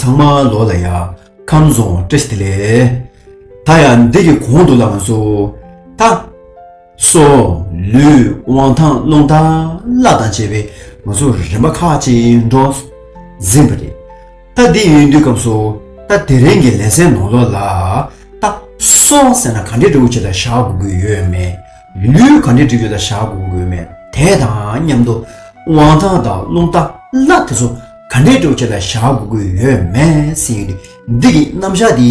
ཚང་མ་ལོ་ལ་ཡ་ཁམ་བཟང་ཏྲེ་སྟི་ལེ་ད་ཡ་འདི་གི་གོང་དུ་ལ་ང་སོ་ད་སོ། ལུས་དབང་ཐང་རླུང་དང་བླ་དང་བཅས་པའི་ང་ཚོ་རིམ་པ་ཁག་ཅིག་འགྲོ་ཟིན་པ་རེད། ད་འདི་ཡོད་དུས་སྐབས་སུ་ད་དེ་རིང་གི་ལས་ཚན་ནོར་ལོག་ལ་ད་སོ་ཟེར་ན་ག་འདྲས་འབྲི་འོ་ཅི་ལ་བཞག་དགོས་དགོས་ཡོད་མེད། ལུས་ག་འདྲས་འབྲི་རྒྱུ་ལ་བཞག་དགོས་དགོས་མེད་དེ་དང་མཉམ་དུ་དབང་ཐང་དང་རླུང་དང་བླ་དེ་ཚོ་ག་འདྲས་འབྲི་འོ་ཅི་ལ་བཞག་དགོས་དགོས་ཡོད་མེད་ཟེར་ཡོད་དུས་འདི་གི་རྣམ་བཞག་འདི་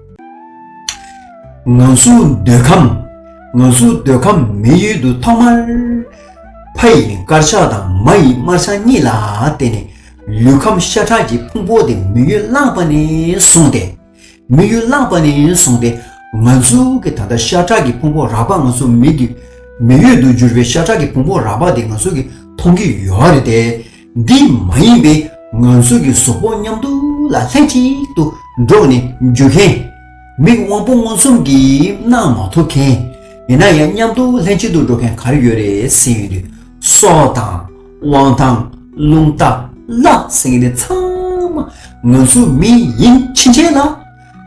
ང་སུ་འདོད་ཁམས་ང་སུ་འདོད་ཁམས་མི་ཡུལ་དུ་ཐོག་མར་ཕ་ཡི་དཀར་ཆག་དང་མ་ཡི་དམར་ཆག་གཉིས་ལ་བརྟེན་ནས་ལུས་ཁམས་ཤ་ཁྲག་གི་ཕུང་པོ་དེ་མི་ཡུལ་བླངས་པ་ནས་བཟུང་སྟེ། མི་ཡུལ་བླངས་པ་ནས་བཟུང་སྟེ་ང་ཚོའི་གི་ད་ལྟ་ཤ་ཁྲག་གི་ཕུང་པོ་རགས་པ་ང་ཚོའི་མིག་གི་མི་ཡུལ་དུ་གྱུར་པའི་ཤ་ཁྲག་གི་ཕུང་པོ་རགས་པ་དེ་ང་ཚོས་གི་མཐོང་གི་ཡོད་རེད་དེ། འདི་མ་ཡིན་པའི་ང་ཚོ་གི་གཟུགས་པོ་མཉམ་དུ་ལ་ལྷན་གཅིག་ཏུ་འགྲོགས་ནས་འཇུ་མཁན། མིག་དབང་པོ་མངོན་སུམ་གྱིས་སྣང་མ་ཐུབ་མཁན། ཡིན་ན་ཡང་མཉམ་དུ་ལྷན་གཅིག་ཏུ་འགྲོགས་མཁན་ག་རེ་ཡོད་རེད་ཟེར་ཡོང་དུས། སོ་དང། དབང་དང། རླུང་དང། ལ་ཟེར་མཁན་དེ་ཚང་མ་ང་ཚོའི་མི་ཡིན་ཕྱིན་ཆད་ལ།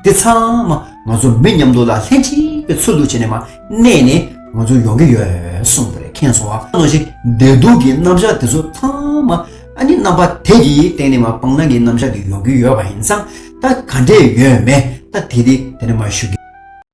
དེ་ཚང་མ་ང་ཚོ་མི་མཉམ་འདུག་ལ་ལྷན་ཅིག་པའི་ཚུལ་དུ་བྱས་ནས་མ་གནས་ནས་ང་ཚོ་ཡོང་གི་ཡོད་གསུངས་པ་རེད་ཁེངས་སོང་བ་ནོ་ཞིག་བདེ་སྡུག་གི་རྣམ་གཞག་དེ་ཚོ་ཚང་མ་ཨ་ནི་རྣམ་པ་དེ་གི་སྟེང་ནས་མ་སྤང་ནང་གི་རྣམ་གཞག་གི་ཡོང་གི་ཡོད་པ་ཡིན་ཙང་ད་ག་འདྲས་ཡོད་མེད་ད་དེ་དེ་དེ་འདྲ་མ་ཞུ་གི།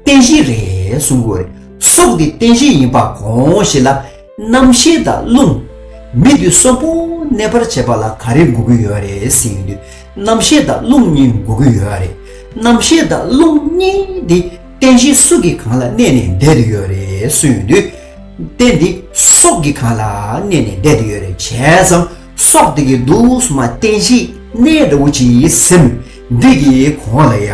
རྟེན་གཞི་རེད་གསུང་གི་རེད། སྲོག་འདི་རྟེན་གཞི་ཡིན་པ་གོང་བཞིན་ལ། རྣམ་ཤེས་དང་རླུང། མི་དུས་སོག་པོ་གནས་པར་བྱེད་པ་ལ་ག་རེ་འགུག་གི་ཡོད་རེད་ཟེར་གྱི་འདུག་རྣམ་ཤེས་དང་རླུང་གཉིས་འགུག་གི་ཡོད་རེད། རྣམ་ཤེས་དང་རླུང་གཉིས་འདི་རྟེན་གཞི་སུ་གི་གང་ལ་གནས་ནས་བསྡད་དུ་ཡོད་རེད་གསུང་གི་འདུག་རྟེན་འདི་སྲོག་གི་གང་ལ་གནས་ནས་བསྡད་དུ་ཡོད་རེད་བྱས་ཙང་སྲོག་བསྡད་ཀྱི་འདུག་སྲོག་མ་རྟེན་གཞི་གནས་འདྲ་བོ་ཅིག་སེམས་འདོད་ཀྱི་གོང་ལ་ཡ།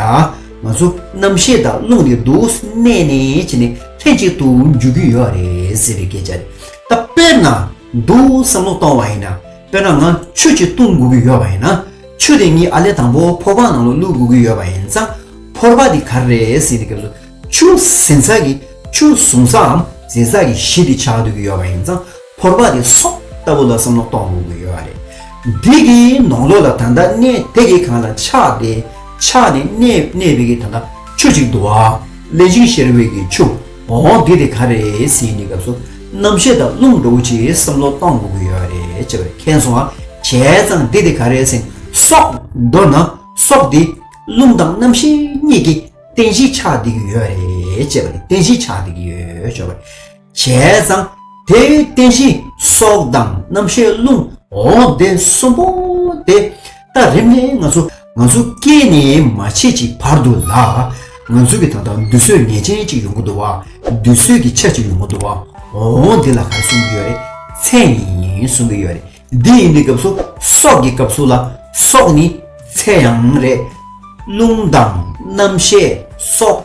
ང་ཚོ་རྣམ་ཤེས་དང་རླུང་གི་འདུག་གནས་ནས་ཕྱིན་ནས་ལྷན་ཅིག་ཏུ་འཇུག་གི་ཡོད་རེད་ཟེར་བའི་སྐད་ཆ་རེད། ད་དཔེར་ན་འདུག་བསམ་བློ་གཏོང་བ་ཡིན་ན་དཔེར་ན་ང་ཆོས་ཅིག་གཏོང་དགོས་ཀྱི་ཡོད་པ་ཡིན་ན་ཆོས་དེ་ཉིད་ཨ་ལས་དང་པོ་ཕོར་པ་ནང་ལ་བླུག་དགོས་ཀྱི་ཡོད་པ་ཡིན་ཙང་ཕོར་པ་དེ་ག་རེ་རེད་ཟེར་ནས་སྐབས་སུ་ཆུ་ཟན་ཚགས་ཀྱི་ཆུ་བཟུང་ས་འམ་ཟན་ཚགས་ཀྱི་གཞི་དེ་ཆགས་སྡོད་ཀྱི་ཡོད་པ་ཡིན་ཙང། ཕོར་པ་དེ་སོགས་ལྟ་བུ་ལ་བསམ་བློ་གཏོང་དགོས་ཀྱི་ཡོད་བ་རེད། འདི་གི་ནང་ལོགས་ལ་ད་ལྟ་གནས་དེ་གི་གང་ལ་ཆགས་ཏེ་ཆགས་ནས་གནས་གནས་པའི་གི་ད་ལྟ་ཆུ་ཅིག་འདུག་བ། ལན་ཅིག་ཤེར་བའི་གི་ཆུ་འོང་འདི་དེ་ག་རེད་ཟེར་ནས་སྐབས་སུ་རྣམ་ཤེས་དང་རླུང་འགྲོ་བོ་ཆེའི་བསམ་བློ་གཏོང་དགོས་ཀྱི་ཡོད་རེད་ཅེས་པ་མཁྱེན་སོང་བ་བྱས་ཙང་འདི་དེ་ག་རེད་ཟེར་ནས་སོགས། མདོར་ན་སོགས་དེ་རླུང་དང་རྣམ་ཤེས་གཉིས་ཀྱི་རྟེན་གཞི་ཆགས་འདི་གི་ཡོད་རེད་ཅེས་པ་ནི་རྟེན་གཞི་ཆགས་འདི་གི་ཡོད་ཅེས་བྱ་བ་རེད། བྱས་ཙང་དེའི་རྟེན་གཞི་སྲོག་དང་རྣམ་ཤེས་རླུང་འོང་སྟེ་གསུམ་པོ་དེ་ལྟ་རིམ་ནི་ང་ཚོ་ང་ཚོ་སྐྱེས་ནས་མ་བྱེད་ཀྱི་བར་དུ་ལ་ང་ཚོ་གི་ད་ལྟ་འདུས་བཟོད་ངེས་ཅན་གཅིག་ཡོང་གི་འདུག་བ་འདུས་བཟོད་ཀྱི་ཆ་གཅིག་ཡོང་གི་འདུག་བ་འོང་དེ་ལ་ག་རེ་གསུང་གི་ཡོད་རེད་ཚད་ཡིན་གསུང་གི་ཡོད་རེད་འདི་ཡིན་འདི་སྐབས་སུ་སྲོག་གི་སྐབས་སུ་ལ་སྲོག་ནི་ཚད་ཡང་རེད་རླུང་དང་རྣམ་ཤེས་སྲོག།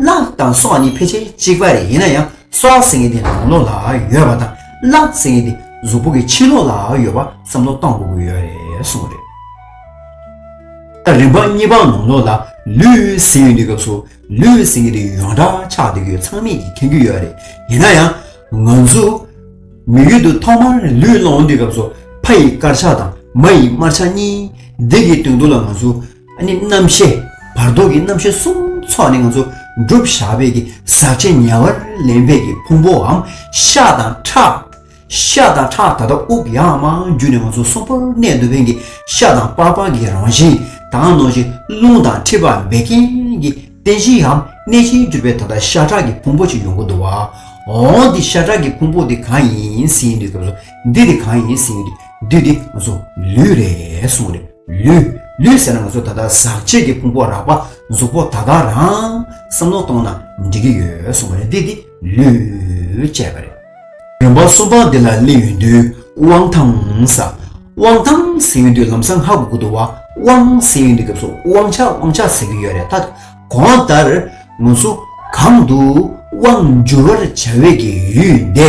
གླགས་དང་སོགས་ནི་ཕལ་ཆེར་གཅིག་པ་རེད་ཡིན་ན་ཡང་སོགས་ཟེར་མཁན་དེ་རང་ལོགས་ལ་ཡོད་པ་དང་གླགས་ཟེར་མཁན་དེ་གཟུགས་པོ་གི་ཕྱི་ལོགས་ལ་ཡོད་པ་བསམ་བློ་གཏང་དགོས་ཀྱི་ཡོད་རེད་གསུངས་པ་རེད། ད་རིམ་པ་གཉིས་པ་ནང་ལོགས་ལ་ལུས་ཟེར་ཡོད་དུས་སྐབས་སུ་ལུས་ཟེར་མཁན་དེ་ཡོངས་གྲགས་ཆགས་སྡོད་ཀྱི་ཚང་མེད་ཀྱི་མཁྱེན་རྒྱུ་ཡོད་རེད་ཡིན་ན་ཡང་ང་ཚོ་མི་ཡུལ་དུ་ཐོག་མར་ལུས་སློང་དུས་སྐབས་སུ་ཕ་ཡི་དཀར་ཆགས་དང་མ་ཡི་དམར་ཆགས་གཉིས་འདི་གི་དོན་དུ་ལ་ང་ཚོ་ཨ་ནི་རྣམ་བཤད་བར་དོ་གི་རྣམ་བཤད་གསུམ་ཚོགས་ནི་ང་ཚོ་བསྒྲུབ་བཞག་བས་ཀྱི་ཟག་བཅས་ཉེ་བར་ལེན་བས་ཀྱི་ཕུང་པོའམ་ཤ་དང་ཁྲག། ཤ་དང་ཁྲག་ད་ལྟ་དབུགས་ཡང་མ་རྒྱུ་ནས་ང་ཚོ་སྲོག་ཕོར་གནས་འདུག་བས་ཀྱི་ཤ་དང་པགས་པ་གི་རང་བཞིན་དང་ནོར་གྱི་རླུང་དང་མཁྲིས་པ་བད་ཀན་གྱི་རྟེན་གཞིའམ་གནས་ཆེན་གྱུར་པས་ད་ལྟ་ཤ་ཁྲག་གི་ཕུང་པོ་གཅིག་ཡོང་གི་འདུག་བ། འོང་འདི་ཤ་ཁྲག་གི་ཕུང་པོ་འདི་གང་ཡིན་ཟིན་འདུག་སྐབས་སུ་འདི་དེ་གང་ཡིན་ཟིན་འདུག་འདི་ང་ཚོ་ལུས་རེད་གསུངས་རེད། ལུས། ལུས་ཟེར་ན་ང་ཚོ་ད་ལྟ་ཟག་བཅས་ཀྱི་ཕུང་པོ་རགས་པ་གཟུགས་པོ་དག་དག་རང། བསམ་མནོ་གཏོང་ན་འགྲིག་གི་ཡོད་གསུངས་པ་རེད་འདི་དེ་ལུས། ཅེས་པ་རེད། རིམ་པ་གསུམ་པ་འདི་ལ་གླེང་ཡོད་དུས་དབང་ཐང། དབང་ཐང་ཟེར་ཡོད་དུས་ལམ་སང་ཧ་གོ་གི་འདུག་དབང་ཟེར་ཡོད་དུས་སྐབས་སུ་དབང་ཆ་དབང་ཆ་ཟེར་གི་ཡོད་རེད་ད། གོང་ལྟར། ང་ཚོ་གང་དུ་དབང་བསྒྱུར་བར་བྱ་འོས་ཀྱི་ཡུལ་འདི།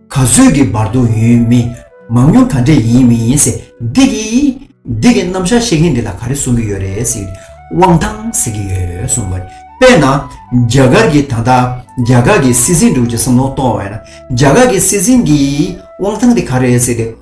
ག་ཚོད་ཀྱི་བར་དུ་ཡོད་མི་མང་ཉུང་ག་འདྲས་ཡིན་མི་ཡིན་ཟེར་འདི་གི། འདི་གི་རྣམ་གཞག་ཤེས་མཁན་འདི་ལ་ག་རེ་གསུང་གི་ཡོད་རེད་ཟེར་དབང་ཐང་ཟེར་གི་ཡོད་གསུང་བ་རེད་དཔེར་ན། རྒྱ་གར་གྱི་ད་ལྟ་རྒྱ་གར་གྱི་སྲིད་འཛིན་འགྲོ་ཀྱི་བསམ་བློ་གཏོང་བ་ཡིན་ན་རྒྱ་གར་གྱི་སྲིད་འཛིན་གྱི་དབང་ཐང་འདི་ག་རེད་ཟེར་ཏེ།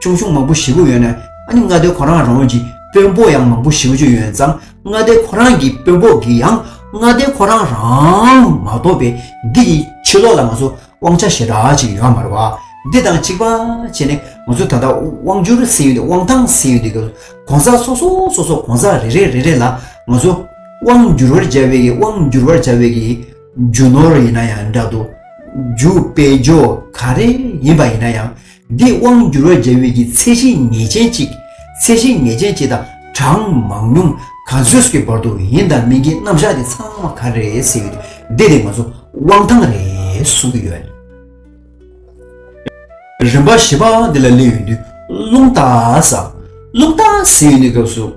ཅུང་ཆུང་མང་པོ་བཞི་པོ་ཡོད་ན་ཨ་ནི་མངའ་སྡེ་ཁོ་རང་རང་གི་དཔོན་པོ་ཡང་མང་པོ་བཞི་བ་བཅུ་ཡོད་ཙང་མངའ་སྡེ་ཁོ་རང་གི་དཔོན་པོ་གིས་ཡང་མངའ་སྡེ་ཁོ་རང་རང་མ་གཏོགས་པའི་འདི་ཡི་ཕྱི་ལོག་ལ་ང་ཚོ་དབང་ཆ་ཞེ་དྲག་ཅིག་ཡོད་མ་རེད་བ། འདི་དང་གཅིག་པ་བྱས་ནས་ང་ཚོ་ད་ལྟ་དབང་བསྒྱུར་ཟེར་ཡོད་འདུག་དབང་ཐང་ཟེར་ཡོད་འདུག་གོང་ས་སོ་སོ་སོ་སོ་གོང་ས་རེ་རེ་རེ་རེ་ལ་ང་ཚོ་དབང་བསྒྱུར་བར་བྱ་བའི་གི་དབང་བསྒྱུར་བར་བྱ་བའི་གི་རྒྱུ་ནོར་ཡིན་ན་ཡང་འདྲ་འདུག་རྒྱུ་དཔེ་འཇོག་ག་རེ་ཡིན་པ་ཡིན་ན་ཡང། འདི་དབང་བསྒྱུར་བའི་འབྲས་བུ་ཡི་ཚད་གཞི་ངེས་ཅན་གཅིག། ཚད་གཞི་ངེས་ཅན་གཅིག་དང་གྲངས་མང་ཉུང་ག་ཚོད་ཀྱི་བར་དུ་ཡིན་དང་མིན་གྱི་རྣམ་གཞག་དེ་ཚང་མ་ག་རེ་ཟེར་བའི་སྡེ་དེ་ང་ཚོ་དབང་ཐང་རེད་གསུང་གི་ཡོད། རིམ་པ་བཞི་པའང་འདི་ལ་སླེབས་ཡོད་དུས་རླུང་རྟ་ཟེར། རླུང་རྟ་ཟེར་ཡོད་ནི་སྐབས་སུ།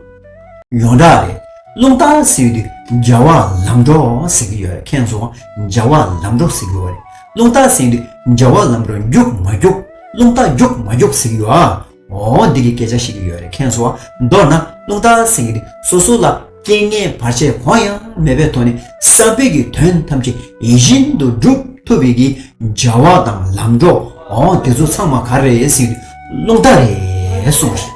ཡོངས་གྲགས་རེད་རླུང་རྟ་ཟེར་དུས་རྒྱ་བ་ལམ་འགྲོ་ཟེར་གི་ཡོད་རེད་མཁན་ཚོ་རྒྱ་བ་ལམ་འགྲོ་ཟེར་གི་ཡོད་རེད་རླུང་རྟ་ཟེར་དུས་རྒྱ་བ་ལམ་འགྲོ་རྒྱུགས་མ་རྒྱུགས་རླུང་རྟ་རྒྱུགས་མ་རྒྱུགས་ཟེར་གི་ཡོད་ཨ་འོ་འདི་གི་སྐད་ཆ་ཤེས་གི་ཡོད་རེད་མཁན་ཚོ་མདོར་ན་རླུང་རྟ་ཟེར་གི་སོ་སོ་ལ་རྐྱེན་ངན་བར་ཆད་གང་ཡང་མེད་པའི་ཐོག་ནས་བསམ་འཕེལ་གྱི་དོན་ཐམས་ཅད་ཡིད་བཞིན་དུ་འགྲུབ་ཐུབ་པའི་གི་རྒྱ་བ་དང་ལམ་འགྲོ་འོ་དེ་ཚོ་ཚང་མ་ག་རེ་ཟེར་དུས་རླུང་རྟ་རེད་གསུངས་པ་རེད།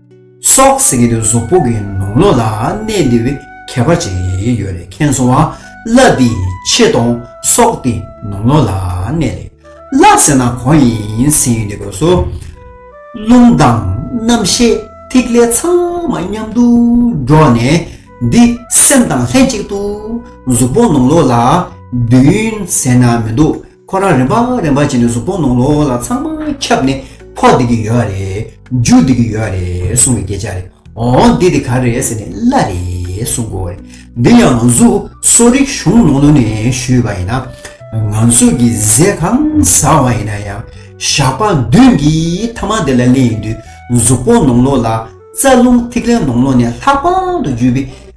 སོགས་ཟེར་གྱི་འདུག་གཟུགས་པོ་གི་ནོར་ལོག་ལ་གནས་འདི་བའི་ཁྱད་པར་ཅི་ཡོད་རེ་མཁན་སོང་བ་བླ་འདིས་ཆེ་གཏོང་སོགས་དེ་ནོར་ལོག་ལ་གནས་རེད་བླ་ཟེར་ན་གང་ཡིན་ཟེར་ཡོད་འདི་དགོས་སོ། རླུང་དང་རྣམ་ཤེས་ཐིག་ལེ་ཚང་མ་མཉམ་དུ་འགྲོགས་ནས་འདི་སེམས་དང་ལྷན་ཅིག་ཏུ་གཟུགས་པོ་ནོར་ལོག་ལ་བདུན་ཟེར་ན་མི་འདུག་ཁོ་རང་རེ་འབའ་རེ་འབའ་བྱས་ནས་གཟུགས་པོ་ནང་ལོག་ལ་ཚང་མ་ཁྱབ་ནས་འཁོར་བསྡད་ཀྱི་ཡོད་རེད་རྒྱུགས་བསྡད་ཀྱི་ཡོད་རེད་གསུང་བའི་སྐད་ཆ་རེད་འོང་འདི་དེ་ག་རེད་ཟེར་ནས་གླ་རེད་གསུང་དགོས་རེད་འདི་ཡང་ང་ཚོ་གསོ་རིག་གཞུང་ནང་ལོ་ནས་ཞུས་པ་ཡིན་ན་ང་ཚོ་གི་ཟས་གང་ཟ་བ་ཡིན་ན་ཡང་ཞགས་པ་མདུན་གྱི་ཐ་མག་དེ་ལ་གླན་ཡིན་དུས་གཟུགས་པོ་ནང་ལོག་ལ་རྩ་རླུང་ཐིག་ལེ་ནང་ལོག་ནས་ལྷག་པར་དུ་རྒྱུས་པའི།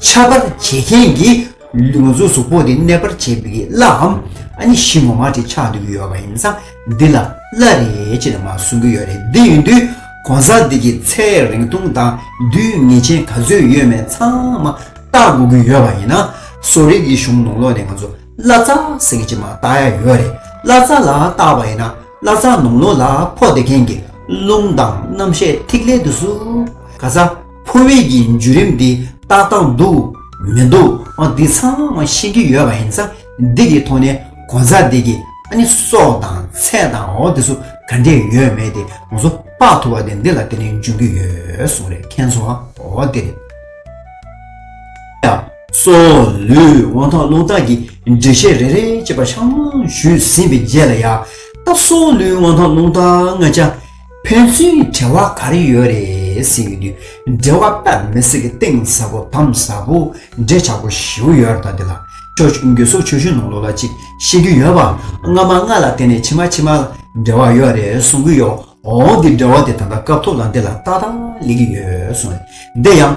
འཆབ་པར་བྱེད་མཁན་གྱི་ལུས་ངག་གཟུགས་གཟུགས་པོ་དེ་གནས་པར་བྱེད་པའི་བླ་འམ་ཨ་ནི་གཞི་ངོ་མ་དེ་ཆགས་འདུག་གི་ཡོད་པ་ཡིན་ས་འདི་ལ་བླ་རེད་ཅེས་ནས་མ་གསུང་གི་ཡོད་རེད་དེ་ཡིན་དུས་གོང་ས་འདི་གི་ཚེ་རིང་ཐུང་དང་རྡུལ་ངེས་ཅན་ག་ཚོད་ཡོད་མེད་ཚང་མ་བལྟ་དགོས་ཀྱི་ཡོད་པ་ཡིན་ན་གསོ་རིག་གི་གཞུང་ནང་ལོགས་ནས་ང་ཚོ་བླ་རྩ་ཟེར་གྱི་མ་བཏགས་ཡ་ཡོད་རེད་བླ་རྩ་ལ་བཏགས་པ་ཡིན་ན་བླ་རྩ་ནང་ལོགས་ལ་ཕོག་བསྡད་མཁན་གྱི་རླུང་དང་རྣམ་ཤེས་ཐིག་ལེ་དུ་སུ་ག་ས། ཕོ་བྷེལ་གྱི་འཇུ་རིམ་འདི་ཏག་ཏག་འདུག་མི་འདུག་ཨ་འདི་ཚང་མ་ཤེས་ཀྱི་ཡོད་པ་ཡིན་ས་འདི་གི་ཐོག་ནས་གོ་མཚར་འདི་གི་ཨ་ནི་སྲོག་དང་ཚད་དང་འོ་དེ་སུ་ག་འདྲས་ཡོད་མེད་དེ་ང་ཚོ་དཔག་ཐུབ་པ་དེ་འདི་ལ་དེ་ནས་འཇུ་གི་ཡོད་གསུངས་རེད་མཁན་ཚོ་འོ་དེ་རེད། ཡ། སོ། ལུས་དབང་ཐང་བློ་རྟགས་ཀྱི་འགྲེལ་བཤད་རེ་རེ་བྱེད་པ་ཆ་མང་ཞུས་ཟིན་པའི་རྗེས་ལ་ཡ། ད་སོ་ལུས་དབང་ཐང་བློ་རྟགས་ང་ཅག་ཕན་ཚུན་གྱི་བྲལ་བ་ག་རེ་ཡོད་རེད་ཟེར་གྱི་འདུག་འབྲེལ་བ་སྤེལ་མི་སྲིད་གི་གཏིང་ཟབ་པོ་དམ་ཟབ་པོ་འབྲེལ་ཆགས་པོ་ཞིའུ་ཡོད་རེད་ད་འདི་ལ་ཁྱོད་ཀྱི་རྒྱུད་སོགས་ཆོས་ཞུན་ནང་ལོག་ལ་ཅིག་ཤེས་རྒྱུ་ཡོད་པ་སྔ་མ་སྔ་ལ་དེ་ནས་ཕྱི་མ་ཕྱི་མ་ལ་འབྲེལ་བ་ཡོད་རེད་གསུང་གི་ཡོད་འོང་འདི་འབྲེལ་བ་དེ་ད་ལྟ་སྐབས་ཐོག་ལ་འདི་ལ་ཏག་ཏག་ལེགས་ཡོད་སོང་རེད་འདི་ཡང།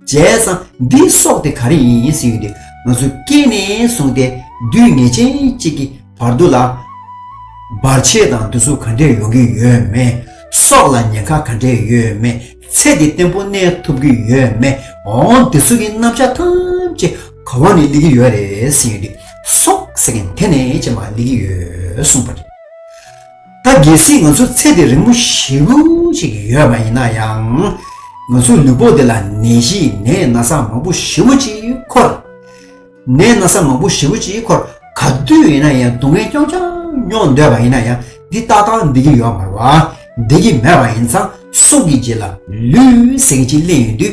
བྱས་ཙང་འདི་སྲོག་དེ་ག་རེ་ཡིན་ཡིན་ཟེར་ཡོད་དུས་ང་ཚོ་སྐྱེས་ནས་བཟུང་སྟེ་དུས་ངེས་ཅན་གཅིག་གི་བར་དུ་ལ་བར་ཆད་དང་འདུ་ཚུགས་ག་འདྲས་ཡོང་གི་ཡོད་མེད། སྲོག་ལ་ཉེན་ཁ་ག་འདྲས་ཡོད་མེད་ཚེ་འདི་བརྟན་པོ་གནས་ཐུབ་ཀྱི་ཡོད་མེད་འོང་འདི་ཚོ་གི་རྣམ་བཞག་ཐམས་ཅད་ག་བ་ནས་གླེགས་ཀྱི་ཡོད་རེད་ཟེར་ཡོད་དུས་སྲོག་ཟེར་མཁན་དེ་ནས་ཅེས་མ་གླེགས་ཀྱི་ཡོད་གསུངས་པ་རེད། ད་གལ་སྲིད་ང་ཚོ་ཚེ་འདི་རིང་མོ་བཞི་རུ་ཞིག་ཡོད་པ་ཡིན་ན་ཡང། ང་ཚོའི་ལུས་པོ་འདི་ལ་ནད་གཞི་ནད་ན་ཟ་མང་པོ་བཞི་བོ་ཅིག་འཁོར། ནད་ན་ཟ་མང་པོ་བཞི་བོ་ཅིག་འཁོར་ག་དུས་ཡིན་ན་ཡང་སྡུག་བསྔལ་རྐྱང་རྐྱང་མྱོང་འདོད་པ་ཡིན་ན་ཡང་འདི་ལྟ་སྟངས་བདེ་གི་ཡོད་མ་རུང་བ། བདེ་གི་མེད་པ་ཡིན་ཙང་སྲོག་གི་རྗེས་ལ་ལུས་སེམས་ཀྱི་གཅིག་གླེང་ཡོད་དུས་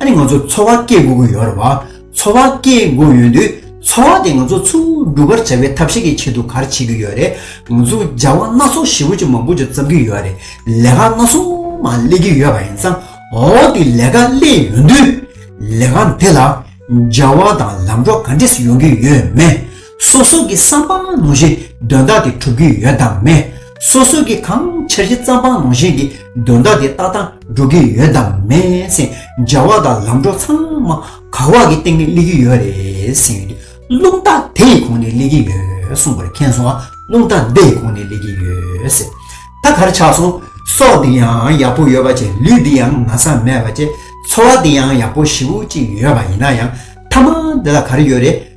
ཨ་ནི་ང་ཚོར་འཚོ་བ་སྐྱེལ་དགོས་ཀྱི་ཡོད་རེད་བ། འཚོ་བ་སྐྱེལ་དགོས་ཡོད་དུས་འཚོ་བ་དེ་ང་ཚོ་ཚུར་སྒྲུབ་པར་བྱ་བའི་ཐབས་ཤེས་ཀྱི་ཆེད་དུ་གར་བྱེད་ཀྱི་ཡོད་རེད། ང་ཚོ་བྱ་བ་སྣ་ཚོགས་ཞེ་བོ་ཅུང་མང་པོ་ཅིག་བརྩམས་ཀྱི་ཡོད་རེད། ལས་ཀ་སྣ་ཚོགས་མ་སླེབས་ཀྱི་ཡོད་པ་ཡིན་ཙང་འོ་དེ་ལས་ཀ་སླེབས་ཡོད་དུས། ལས་ཀ་འདི་ལ་འབྱར་བ་དང་ལམ་འགྲོ་ག་འདྲས་ཡོང་གི་ཡོད་མེད། སོ་སོ་གི་བསམ་པ་ནང་བཞིན་དོན་དག་དེ་གྲུབ་ཀྱི་ཡོད་དམ་མེད། སོ་སོ་གི་གང་འཆར་གཞི་བརྩམ་པ་ནང་བཞིན་གྱི་དོན་དག་དེ་ཏག་ཏག་འགྲོ་གི་ཡོད་དམ་མེད་སེམས་འཇལ་བ་དང་ལམ་འགྲོ་ཚང་མ་ག་བག་གི་སྟེང་ནས་སླེབས་ཀྱི་ཡོད་རེད་སེམས་ཡོད་དུས་རླུང་རྟ་དེ་ཡི་གོང་ནས་སླེབས་ཀྱི་ཡོད་གསུངས་པར་མཁྱེན་སོང་ང་རླུང་རྟ་འདི་ཡི་གོང་ནས་སླེབས་ཀྱི་ཡོད་ཟེར། ད་གར་ཆགས་སོང། སྲོག་འདི་ཡང་ཡག་པོ་ཡོད་པ་བཅས་ལུས་འདི་ཡང་ན་ཚ་མེད་པ་བཅས་འཚོ་བ་འདི་ཡང་ཡག་པོ་ཞི་བོ་གཅིག་ཡོད་པ་ཡིན་ན་ཡང་ཐ་མ་འདི་ལ་ག་རེ་ཡོད་རེད།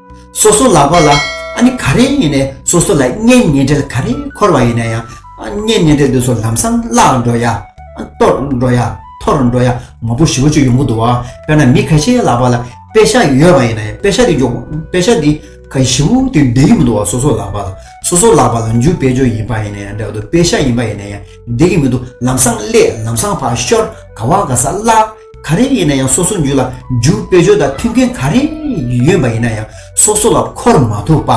སོ་སོ་ལག་པ་ལ་ཨ་ནི་ག་རེ་ཡིན་ནས་སོ་སོ་ལ་གཉེན་ཉེ་འབྲེལ་ག་རེ་འཁོར་བ་ཡིན་ན་ཡང་གཉེན་ཉེ་འབྲེལ་འདི་ཚོ་ལམ་སང་བརླག་འགྲོ་ཡ། གཏོར་འགྲོ་ཡ། འཐོར་འགྲོ་ཡ་མང་པོ་ཞིག་བཅུག་ཡོང་གི་འདུག་དཔེར་ན་མི་ག་ཤེའི་ལག་པ་ལ་དཔེ་ཤ་ཡོད་པ་ཡིན་ན་ཡང་དཔེ་ཤ་དེ་འཇོག་དཔེ་ཤ་དེ་ག་བཞི་བོ་དེ་འདི་གི་མི་འདུག་བ་སོ་སོ་ལག་པ་ལ་སོ་སོ་ལག་པ་ལ་འཇུག་དཔེ་འཇོག་ཡིན་པ་ཡིན་ན་ཡང་འདྲ་བ་འདུག་དཔེ་ཤ་ཡིན་པ་ཡིན་ན་ཡང་འདི་གི་མི་འདུག་ལམ་སང་སླེབས་ལམ་སང་ཕར་ཤོར་ག་བ་ག་ས་བརླག། ག་རེ་ཡིན་ན་ཡང་སོ་སོ་རྒྱུད་ལ་འཇུག་དཔེ་བརྗོད་དང་མཐུན་མཁན་ག་རེ་ཡོད་པ་ཡིན་ན་ཡང་སོ་སོ་ལ་འཁོར་མ་ཐུབ་པ།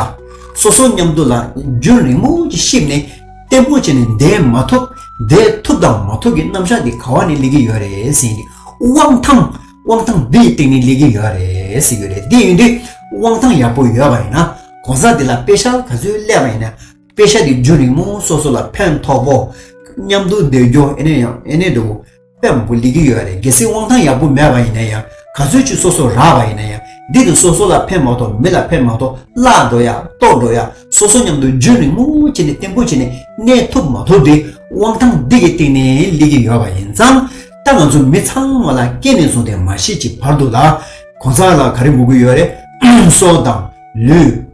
སོ་སོ་མཉམ་དུ་ལ་རྒྱུན་རིང་མོ་ཅིག་གཤིབ་ནས་བརྟན་པོ་བྱས་ནས་འདས་མ་ཐུབ་བསྡད་ཐུབ་དང་མ་ཐུབ་ཀྱི་རྣམ་གཞག་འདི་ག་བ་ནས་སླེབས་ཀྱི་ཡོད་རེད་ཟེར་ཡིན་དུས་དབང་ཐང་དབང་ཐང་འདིའི་སྟེང་ནས་སླེབས་ཀྱི་ཡོད་རེད་ཟེར་གྱི་རེད་དེ་ཡིན་དུས་དབང་ཐང་ཡག་པོ་ཡོད་པ་ཡིན་ན་གོང་ས་འདི་ལ་དཔེ་ཆ་ག་ཚོད་སླེབས་པ་ཡིན་ན་དཔེ་ཆ་འདི་རྒྱུན་རིང་མོ་སོ་སོ་ལ་ཕན་ཐོགས་པོ། མཉམ་དུ་བསྡད་རྒྱུ་ཨེ་ནས་ཡང་ཨེ་ནས་འགྲོ། དཔེ་མང་པོ་ལེགས་ཀྱི་ཡོད་རེད་གལ་སྲིད་དབང་ཐང་ཡག་པོ་མེད་པ་ཡིན་ན་ཡང་ག་ཚོད་ཅིག་སོ་སོར་རག་པ་ཡིན་ན་ཡང་འདི་དང་སོ་སོ་ལ་ཕན་མ་ཐོག་མི་ལ་ཕན་མ་ཐོག་བརླག་འགྲོ་ཡ་ལྟོགས་འགྲོ་ཡ་སོ་སོ་མཉམ་དུ་རྒྱུད་ནས་མངོན་བྱས་ནས་བརྟན་པོ་བྱས་ནས་གནས་ཐུབ་མ་ཐུབ་དེ་དབང་ཐང་འདི་གི་སྟེང་ནས་ལེགས་ཀྱི་ཡོད་པ་ཡིན་ཙང་ད་ང་ཚོ་མི་ཚང་མ་ལ་སྐད་ནས་བཟུང་སྟེ་མ་ཤེས་ཀྱི་བར་དུ་ལ་གོང་ས་ལ་ག་རེ་འགུག་གི་ཡོད་རེད་སྲོག་དང་ལུས།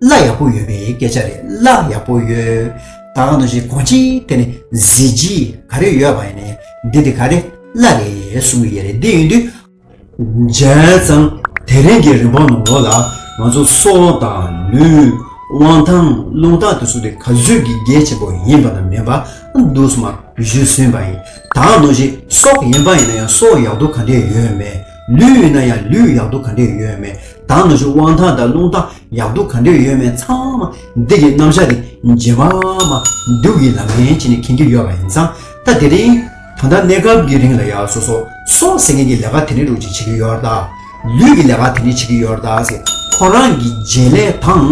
བླ་ཡག་པོ་ཡོད་པའི་སྐད་ཆ་རེད་བླ་ཡག་པོ་ཡོད། ད་གང་དུ་ཞིག་གོ་ཅི་དེ་ནི་གཟི་བརྗིད་ག་རེ་ཡོད་པ་ཡིན་ནའི་འདི་དེ་ག་རེ་བླ་རེད་གསུང་གི་ཡ་རེད་དེ་ཡིན་དུས། མཇལ་ཙང་དེ་རིང་གི་རིན་པོ་ནོར་ལོ་ལ་ང་ཚོ་སོ་དང་ལུས། དབང་ཐང་རླུང་རྟ་དེ་ཚོ་དེ་ག་བཟོད་ཀྱི་རྒྱལ་ཆེན་པོ་ཡིན་པ་ན་མེད་པ་འདུག་སྨྲ་བཞུད་ཟིན་པ་ཡིན་ད་གང་དུ་ཞིག་སྲོག་ཡིན་པ་ཡིན་ན་ཡང་སྲོག་ཡག་སྡུག་ག་འདྲེ་ཡོད་མེད། ལུས་ཡོད་ན་ཡང་ལུས་ཡག་སྡུག་ག་འདྲས་ཡོད་མེད་དང་ནུ་ཞོ་དབང་ཐང་དང་རླུང་ཐང་ཡག་སྡུག་ག་འདྲས་ཡོད་མེད་ཚང་མ་འདི་གི་རྣམ་གཞག་གི་རྗེས་མ་མ་འདུག་གི་ལམ་ངན་བྱེད་ནས་ཁེངས་ཀྱི་ཡོད་པ་ཡིན་ཙང་ད་དེ་རིང་ད་ལྟ་གནས་སྐབས་ཀྱི་རིང་ལ་ཡ་སོ་སོ་སོ་ཟེར་མཁན་གྱི་ལས་ཀ་དེ་འདྲས་དྲུག་ཅིག་བྱེད་ཀྱི་ཡོད་ད། ལུས་ཀྱི་ལས་ཀ་དེ་འདྲས་བྱེད་ཀྱི་ཡོད་ད་ཟེར་ཁོ་རང་གི་རྗེས་ལས་དང་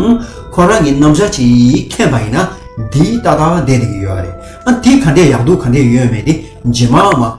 ཁོ་རང་གི་རྣམ་གཞག་ཅིག་མཁྱེན་པ་ཡིན་ན་འདི་ཏག་ཏག་བསྡད་དེ་གི་ཡོད་རེད་ཨ་འདི་ག་འདྲས་ཡག་སྡུག་ག་འདྲས་ཡོད་མེད་དེ་རྗེས་མ་མ།